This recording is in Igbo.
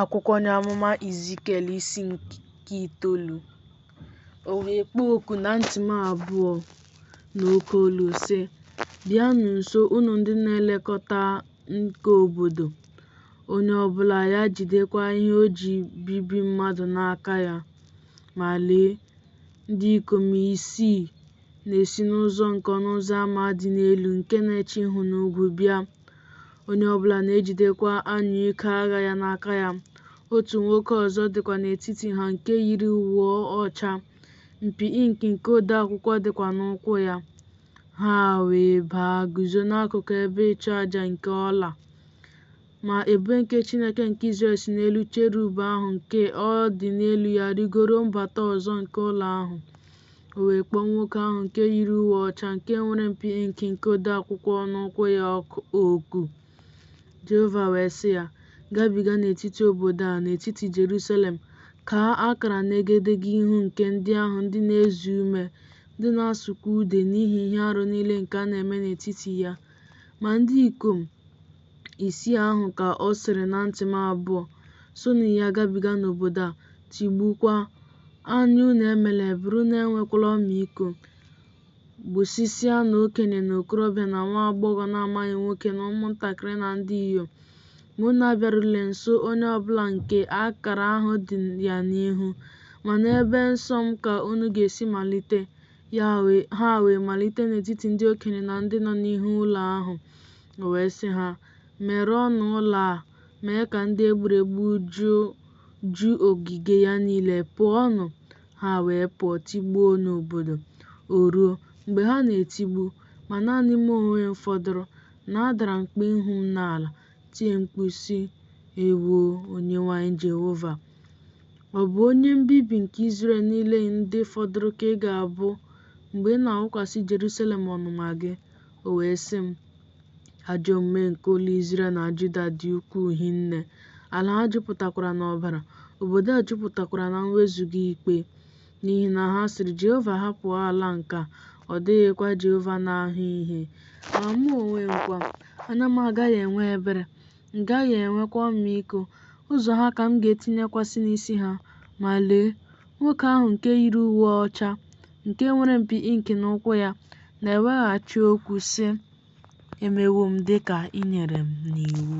akwụkwọ onye amụma Izikiel isi nke itoolu o wee kpọọ oku na ntị m abụọ n'oke olu sị bịanụ nso unu ndị na-elekọta nke obodo onye ọbụla ya jidekwa ihe o ji ebibi mmadụ n'aka ya ma lee ndị ikom isii na-esi n'ụzọ nke ọnụ ụzọ ama dị n'elu nke na-eche ihu n'ugwu bịa Onye ọ bụla na-ejidekwa anyụike agha ya n'aka ya. Otu nwoke ọzọ dịkwa n'etiti ha nke yiri uwe ọcha, mpi ink nke odeakwụkwọ dịkwa n'ụkwụ ya. Ha wee baa guzo n'akụkụ ebe ịchụ aja nke ọla. Ma ebube nke Chineke nke Izrel si n'elu cherub ahụ nke ọ dị n'elu ya rịgoro mbata ụzọ nke ụlọ ahụ. O wee kpọọ nwoke ahụ nke yiri uwe ọcha nke nwere mpi ink nke odeakwụkwọ n'ụkwụ ya oku. Jehova wee sị ya, Gabiga n'etiti obodo a, n'etiti Jerusalem, kaa akara n'egedege ihu nke ndị ahụ ndị na-eze ume, ndị na-asụkwa ude n'ihi ihe arụ niile nke a na-eme n'etiti ya. Ma ndị ikom isii ahụ ka ọ sịrị na ntị m abụọ, Sonụ ya gabiga n'obodo a, tigbukwaa, anya unu emela ebere, unu enwekwala ọmịiko, gbusịsịanụ okenye na okorobịa na nwa agbọghọ na-amaghị nwoke na ụmụntakịrị na ndị inyom, ma unu abịarule nso onye ọbụla nke akara ahụ dị ya n'ihu, ma n'ebe nsọ m ka unu ga-esi malite Ha wee malite n'etiti ndị okenye na ndị nọ n'ihu ụlọ ahụ, o wee sị ha, Merụọnụ ụlọ a, mee ka ndị e gburu egbu ju ogige ya niile, pụọnụ! Ha wee pụọ tigbuo n'obodo. O ruo, mgbe ha na-etigbu, ma naanị mụ onwe m fọdụrụ, na adara m kpuo ihu m n'ala, tie mkpu, sị, Ewoo, Onyenwe anyị Jehova! Ọ bụ onye mbibi nke Izrel niile ndị fọdụrụ ka ị ga-abụ mgbe ị na-awụkwasị Jerusalem ọnụma gị. O wee sị m, Ajọ omume nke ụlọ Izrel na Juda dị ukwuu hinne, ala ha jupụtakwara n'ọbara, obodo a jupụtakwara na mwezuga ikpe. N'ihi na ha sịrị, Jehova ahapụwo ala nke a, ọ dịghịkwa Jehova na-ahụ ihe. Ma mụ onwe m kwa, anya m agaghị enwe ebere, m gaghị enwekwa ọmịiko. Ụzọ ha ka m ga-etinyekwasị n'isi ha. Ma lee, nwoke ahụ nke yiri uwe ọcha, nke nwere mpi ink n'ụkwụ ya, na-eweghachi okwu, sị, Emewo m dị ka i nyere m n'iwu.